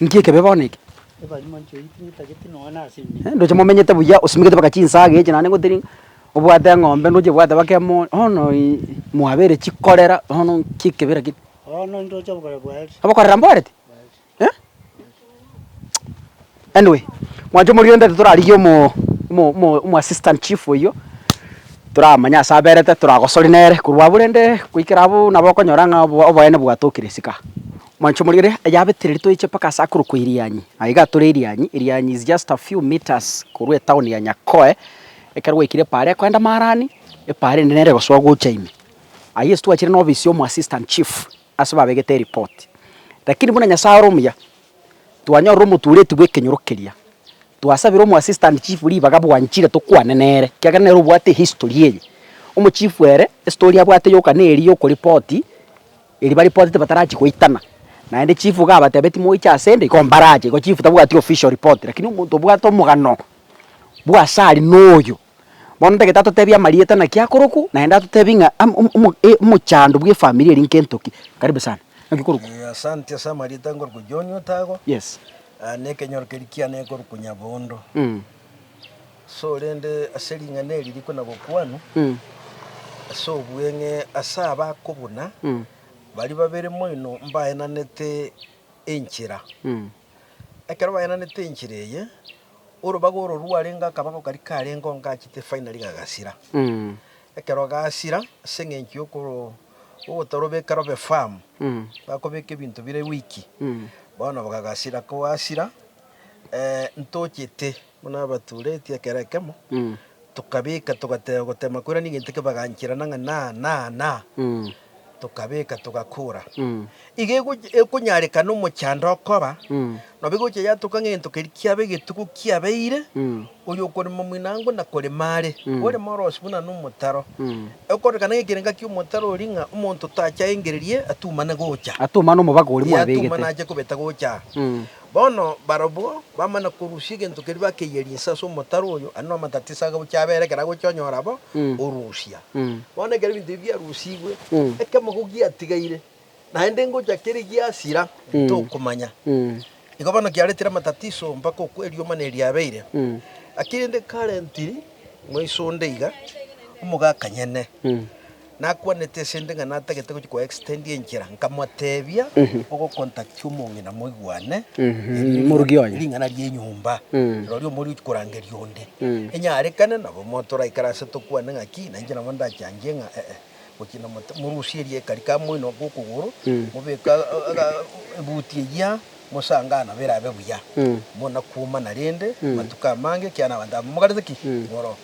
Inki ekebe bono eke? Ndoche momenyete buya, osimegete mpaka chinsaga echi, naende gotiri obwate eng'ombe ndoche obwate mpaka emori, bono ii mwabeire chikorera, bono inki ekebe lakini? Obokorera mboreti? Eh? Anyway, mwancha omoriondo titorarigia omo omo omo omoassistant chief oyio, toramanye ase aberete, toragosori nere korwa abwo rende goikera abwo nabo okonyora ng'a oboe oboe nabwatokire isiko aa. Mwanchomorere ayabetereri toeche mpaka ase akorokwa Irianyi. Aye iga atore Irianyi. Irianyi is just a few metres korwa etown ya Nyakoe. Ekero gwaikire epaara ekoenda Marani, epaara ende nere egosoa gocha ime. Aye ase twachire n'office ya omoassistant chief ase babegete ereport. Lakini buna Nyasae ore omuya, twanyorire omotureti bw'ekenyoro keria. Twasabire omoassistant chief ribaga bwanchire tokwane nere, ekiagera nere obwate ehistory eye. Omochief ere, estory abwate yoka neri yokorepoti. Erio baripotete batarachia goitana, naende chief iga abatebia timoiche ase 'nde, igo mbarache, igo chief tabwati official report, lakini omonto obwate omogano bw'ase aria noyo. Bono ntagete atotebie amarieta naki akorokwa, naende atotebie ng'a am- om- omo e- omochando bw'efamiri eria nkento ki. Karibu sana. Naki okorokwa? Eh, asante ase amarieta nkorokwa John Otago, Yes. ah, na ekenyoro keria kiane nkorokwa Nyabondo. Mm. Sorende ase ring'ana eri riko na bokuanu ase obweng'e ase abakobuna baria babere moino mbaenanete enchera. Ekero baenanete enchera eye, orobaga oro rwarenge akabago karia karenge onga achete finally gagasira. Ekero gasira, ase eng'encho y'okoro- y'ogotorobeka robe firm, bakobeka ebinto bire weak, bono bagagasira. Kogasira, eh, ntochete. Buna abaturetie ekero ekemo, tokabeka, togateba gotema koira ning'iti ki baganchera na ng'a naa, naa, naa, tokabeka, togakora. Iga egochi- ekonyarekana omochando okoba, nabo egochia yatoka ng'egento keria kiaba egetuko kiabeire, oyo okorema moinango na korema are, orema orosi buna nomotaro. Ekorekana ng'ekerenga ki'omotaro oria ng'a omonto tacha aengererie atumane gocha. Atumane omobago oria Ee, atumane mwabegete. ache kobeta gocha aa. Bono barabwo bamana korusia egento keria bakeiyeria inse ase omotaro oyo, aria namatatiso agabucha abere ekero agocha onyora bo orusia. Bono ekero ebinto ebi biarusigwe, ekemogo giatigaire, naende ngocha kere giasira, tokomanya. Igo bono kiaretire amatatiso mpaka okwo eriomana eri riabeire. Gaki rende karentiri moiso onde iga, omogaka nyene. Nakwanete esende ng'a natagete gochia ko extend enchera, nkamoteebia, Ogokontakia omong'ina moigwane, erio Morugi onye. ring'ana ri'enyomba, rirorio omoria ochia korangeria onde. Enyarekane nabo mo toraikare ase tokwane ng'a ki, nainche nabo ndachangie ng'a ee, gochia na mote, morusie erieka rika moinoke okogoro, mobeke ebuti eyia, mosange aa nabo erabe buya. Monakuomana rende amatuko amange ekiagera abanto aba momogarete ki? Moro.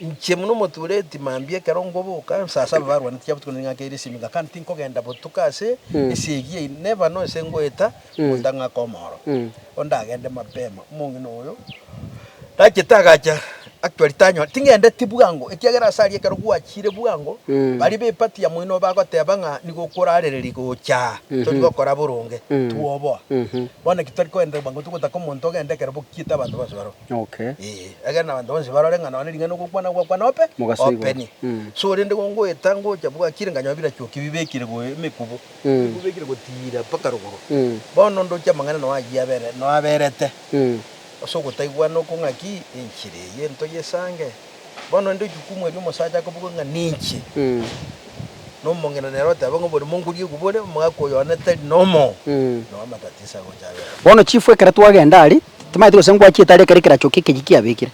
Inche buna omotuureti mambia ekero nkoboka, nsaase ababarwani tiga botuko nere ng'ake Elishimi, ng'a kandi tinkogenda botuko ase esegi eyio, neba nonse ngoeta monto ang'ake omooro, onde agende mapema. Omong'ina oyo nachete agacha actually tanyora, tingendeti bwango, ekiagera ase aria ekero gwachiire bwango, baria b'epati ya moino bagoteeba ng'a nigo okorarereria gocha aa, tori gokora boronge, twoboa. Bono naki tari koendereri bwango, togotaka omonto ogende ekero bokiete abanto bonsi baroo. Okay. Ee, egere na abanto bonsi barore ng'a nonya ring'ana ogokwana gwakwana ope, Mogaso igoro. openi. Mm. So rende igo ngoeta ngocha bwakire nkanyora birachuoki bibekire go emekubo, Mm. emekubo ebekire gotiira mpaka rogoro. Mm. Bono ndoche amang'ana noa ayio abere, noa aberete. Mm. Ase ogotaigwa nokong'a ki, enchera eye ntoyesange. Bono inde jukumu eria omosacha akaboka ng'a ninche, na omong'ina nere oteba ng'a oborimo nkoria kobore omogaka oyo one tari nomo, nao amatatiso agocha abe amo. Bono chifu ekero twagenda aria, timaeti gose ngwachiete aria ekero ekerachoki ekeyio kiabekire.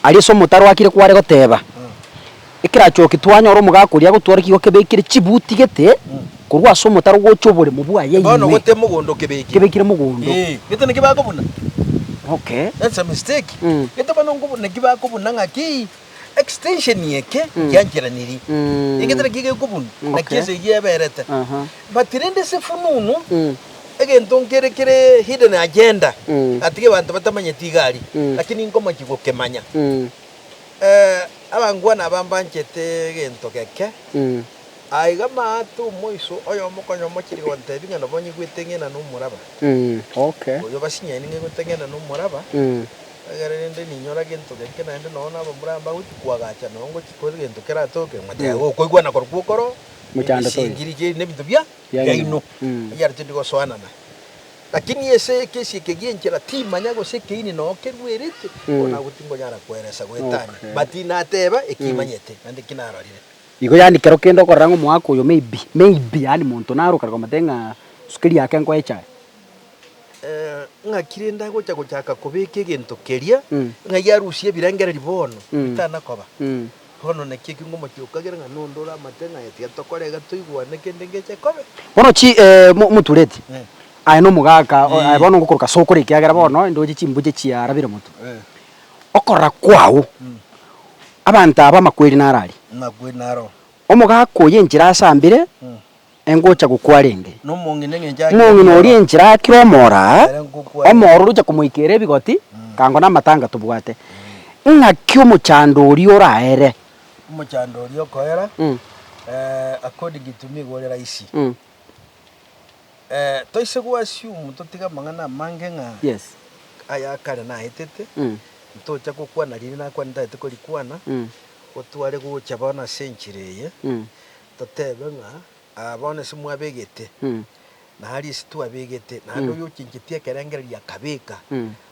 Aria ase omotaro akire kware goteba, ekerachoki twanyora omogaka oria agotwara kigo kebekire chibuti gete, Korwa ase omotaro gocha oboremo bwaye Bono ime. gotee mogondo kebekire. Kebekire mogondo. Ee, gete naki bakobuna. Okay. That's a mistake. Mm. Gete bono nkobu naki bakobuna ng'aki extension eke nkiancheranirie. Mm. Egete naki gekobunwa, Mm, naki okay. ense eyio eberete. Aha. But rende ase efununu, Mm. egento nkere kere hidden agenda, Mm. atiga abanto batamanyeti iga aria, Mm. lakini nkomochia gokemanya. Mm. Eh, abangwana aba mbanchete egento geke, Mm. Aiga maate omoiso oyomokonyo omochiri gotebia ng'a nobo onye gweteng'ena nomoraba, oyio basinyani ng'a igweteng'ena nomoraba, egere rende ninyora gento geke naende nonya nabo mbore mbagochia koagacha nonya ngochia kore gento keratoke, ng'a taiga gokoigwa na korokwo okoro, ebisingiri chiaino na ebinto biaino, ekiagera tindi gosoanana. Lakini ase ekesi eke gi'enchera timanya gose ekeini nonya keruerete, bono nabo tingonyara koeresa goetania, but nateba ekimanyete naende ekinarorire. Igo yaani kero kende okorera ng'a omoaka oyo maybe, maybe yaani monto naro okare komotebia ng'a sukari yake nkoe echae. Ng'aki rende agocha gochaka kobeka egento keria, ng'ai arusie ebirengererio bono bitana koba? Bono naki ekiunga omochie okagera ng'a nonde oramate ng'a aye tiga tokora iga toigwane kende ngeche kobe. Bono chi motureti aye na omogaka aye bono ngokoroka sokora ekiagera bono inde oche chimbuya chiarabire moto. okorora kwao, abanto aba amakweri naro aria. Amakweri naro. Omogaka oye enchera asambire, engocha gokwa rende. Nomong'ina eng'encho akire omoro. Omong'ina oria enchera akire omoro aa, Ere ngokwa rende. omoro oria ocha komoikera ebigoti, kango namatanga tobwate. Ng'aki omochando oria oraere? Omochando oria okoera, according to nigo ore raisi. Toise gwasiumu totige amang'ana amange ng'a aya akare naetete, ntocha gokwana riria nakwane ntagete korikwana, gotware gocha bono ase enchera eye, totebe ng'a aa bono ase mwabegete, na aria ase twabegete, naende oyochencheti ekerengererio akabeka,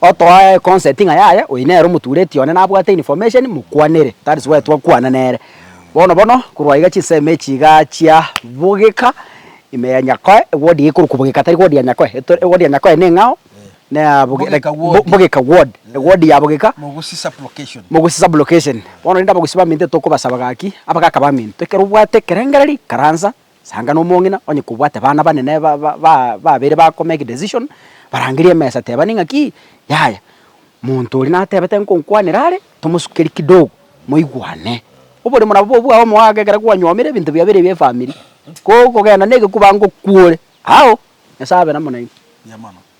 otoa econcept ng'a yaya oyo nere omotureti one nabwate information mokwanere that is why twakwana nere. Bono bono korwa iga chinsemo echi igaa chia bogeka ime ya Nyakoe ewodi ekorwa kobogeka tari wodi ya Nyakoe eto ewodi ya Nyakoe neng'ao na boge like Bogeka ward. bo bogeka ward ewodi ya bogeka Mogusi sub location. mogusi sub location. Bono rende abagusi baminto etokobasaba gaki abagaka baminto ekero obwate ekerengereri karansa. Sanga nomong'ina onye kobwate bana banene babere ba ko make decision, barangerie emesa tebani ng'aki, yaya monto oria natebete nkonkwanera are, tomosukerie kidogo moigwane. Oboremo nabo bobe bwao omogaka ekero kwanyomire ebinto bia bire bia efamiri, ko okogenda na egekuba ngokuore, ao, Nyasaye abe namo nainwe.